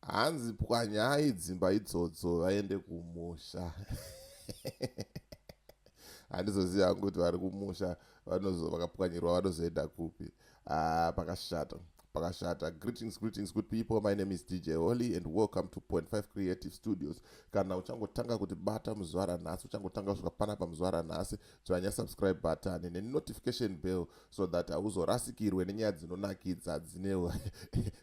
Hanzi pwanyai dzimba idzodzo vaende kumusha. Handizoziva hangu kuti vari kumusha vanozo vakapwanyirwa vanozoenda kupi. Ah, pakashata. Pakashata. Greetings, greetings good people. My name is DJ Holly and welcome to Point 5 Creative Studios. Kana uchangotanga kuti bata muzwara nhasi, uchangotanga kusvika panapa muzwara nhasi, tswanya subscribe button nenotification bell so that hauzorasikirwe nenyaya dzinonakidza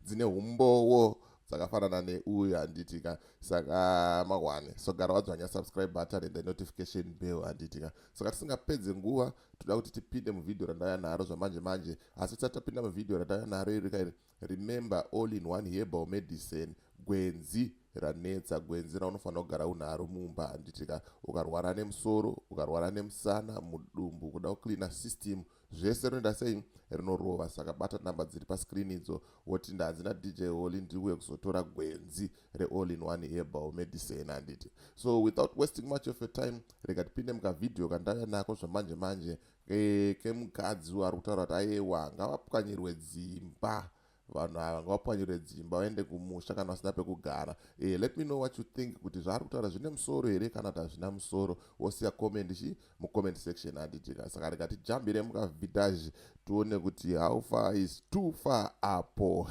dzine umbowo dzakafanana neuyu handitika saka mahwane so gara wadzwanya subscribe button and the notification bell handitika saka tisingapedze nguva toda kuti tipinde muvhidhiyo randauya naro zvamanje manje asi tisati tapinda muvhidhiyo randauya naro iri kairi Remember all in one herbal medicine gwenzi ranetsa gwenzi raunofanira kugara unaro mumba handitika ukarwara nemusoro ukarwara nemusana mudumbu kuda kucleana system zvese rinoita sei rinorova saka bata namba dziri pascreen idzo woti ndanzi nadj holy ndiuye kuzotora gwenzi reall in one herbal medicine handiti so without wasting much of your time rega tipinde mukavhidhiyo kandauya nako zvamanje manje Eh, kemukadzi uyo ari kutaura kuti ayewa ngavapwanyirwe dzimba vanhu ava ngavapwanyirwe dzimba vaende kumusha kana vasina pekugara eh, let me know what you think kuti zvaari kutaura zvine musoro here kana kuti hazvina musoro wosiya comment chi mucomment section handitika saka rega tijambire mukavhidhazhi tione kuti how far is too far apo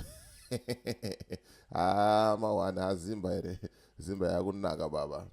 haa ah, mawana azimba here zimba yakunaka baba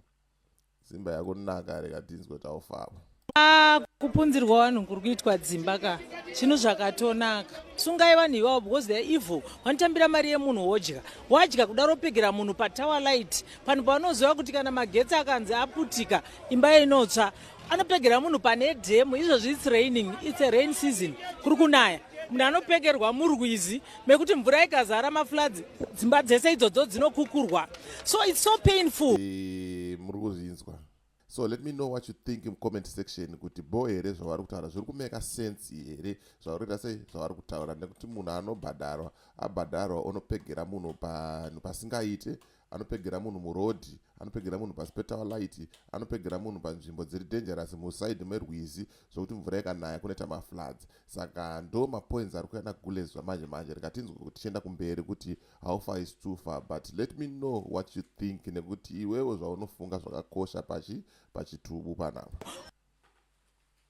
Dzimba yako naka rega tinzwe taufaba. Ah, kupunzirwa vanhu kuri kuitwa dzimba ka chinhu zvakatonaka sungai vanhu ivavo because they're evil vanotambira mari yemunhu wodya wadya kudaro pegera munhu patower light panhu pavanoziva kuti kana magetsi akanzi aputika imba inotsva anopegera munhu pane dhemu izvozvi its raining its a rain season kuri kunaya munhu anopegerwa murwizi mekuti mvura ikazara mafloods dzimba dzese idzodzo dzinokukurwa so its so painful eh, muri kuzvinzwa so let me know what you think mucomment section kuti bo here zvavari kutaura zviri kumeka sense here zvavari kuita sei zvavari kutaura nekuti munhu anobhadharwa abhadharwa onopegera munhu panhu pasingaite anopegera munhu muroad anopegera munhu pasi petower light anopegera munhu panzvimbo dziri dangerous muside merwizi zvokuti mvura ikanaya kunoita mafloods saka ndo mapoints ari kuenda gulezwa manje manje rikatinzwa kuti tichienda kumberi kuti how far is too far but let me know what you think nekuti iwewo zvaunofunga zvakakosha pachi pachitubu panapa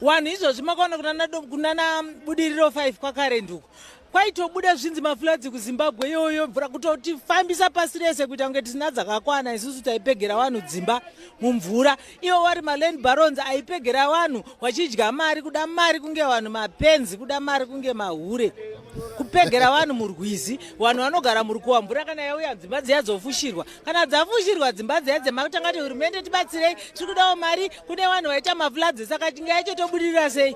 Wanhu izvozvi makaona kunana, kunana budiriro 5 kwakarent uko kwaitobuda zvinzi mafuladzi kuzimbabwe iyoyo mvura kutotifambisa pasi rese kuita kunge tisina dzakakwana isusu taipegera vanhu dzimba mumvura iwo wari maland barons aipegera vanhu wachidya mari kuda mari kunge vanhu mapenzi kuda mari kunge mahure kupegera vanhu murwizi vanhu vanogara murukuwa mvura kana yauya dzimba dziya dzofushirwa kana dzafushirwa dzimba dziya dzemakutanga ti hurumende tibatsirei tiri kudawo mari kune vanhu vaita mafloods saka tinge yacho tobudirira sei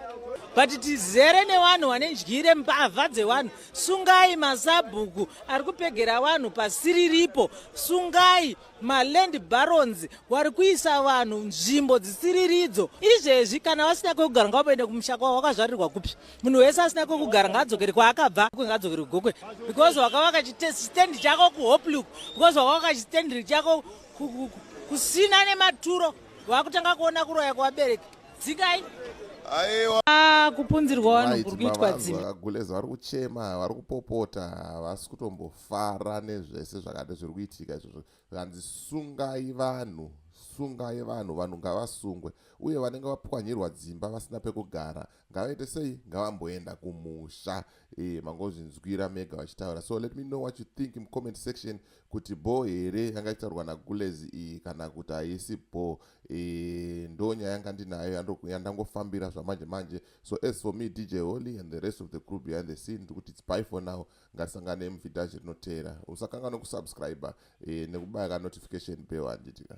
but tizere nevanhu vane ndyire mbavha dzevanhu sungai masabhuku ari kupegera vanhu pasiriripo sungai maland barons wari kuisa vanhu nzvimbo dzisiriridzo izvezvi kana vasina kwekugara ngavaende kumusha kwavo wakazvarirwa kupi munhu wese asina kwekugara ngaadzokere kwaakabva ngaadzokere kugokwe because wakavaka chistandi chako kuhopluk because wakavaka chistandiri chako kusina nematuro vakutanga kuona kuroya kwevabereki dzikai aiwa ah, kupunzirwa vanhu kuri kuitwa dzimba vakaguleza vari kuchema vari kupopota havasi kutombofara nezvese zvakati zviri kuitika izvozvo zvanzi sungai vanhu sungai vanhu vanhu ngavasungwe uye vanenge vapwanyirwa dzimba vasina pekugara ngavaite sei ngavamboenda kumusha e, mangozvinzwira mega vachitaura so let me know what you think mucomment section kuti bho here yanga ichitaurwa nagulezi iyi kana kuti haisi bho e, ndo nyaya yanga ndinayo yandangofambira zvamanje manje so as for me dj holy and the rest of the crew behind the scene ndiri kuti its by for now ngatisangane muvhidhaji rinoteera usakanga nokusubscribe e, nekubaya kanotification bell handitika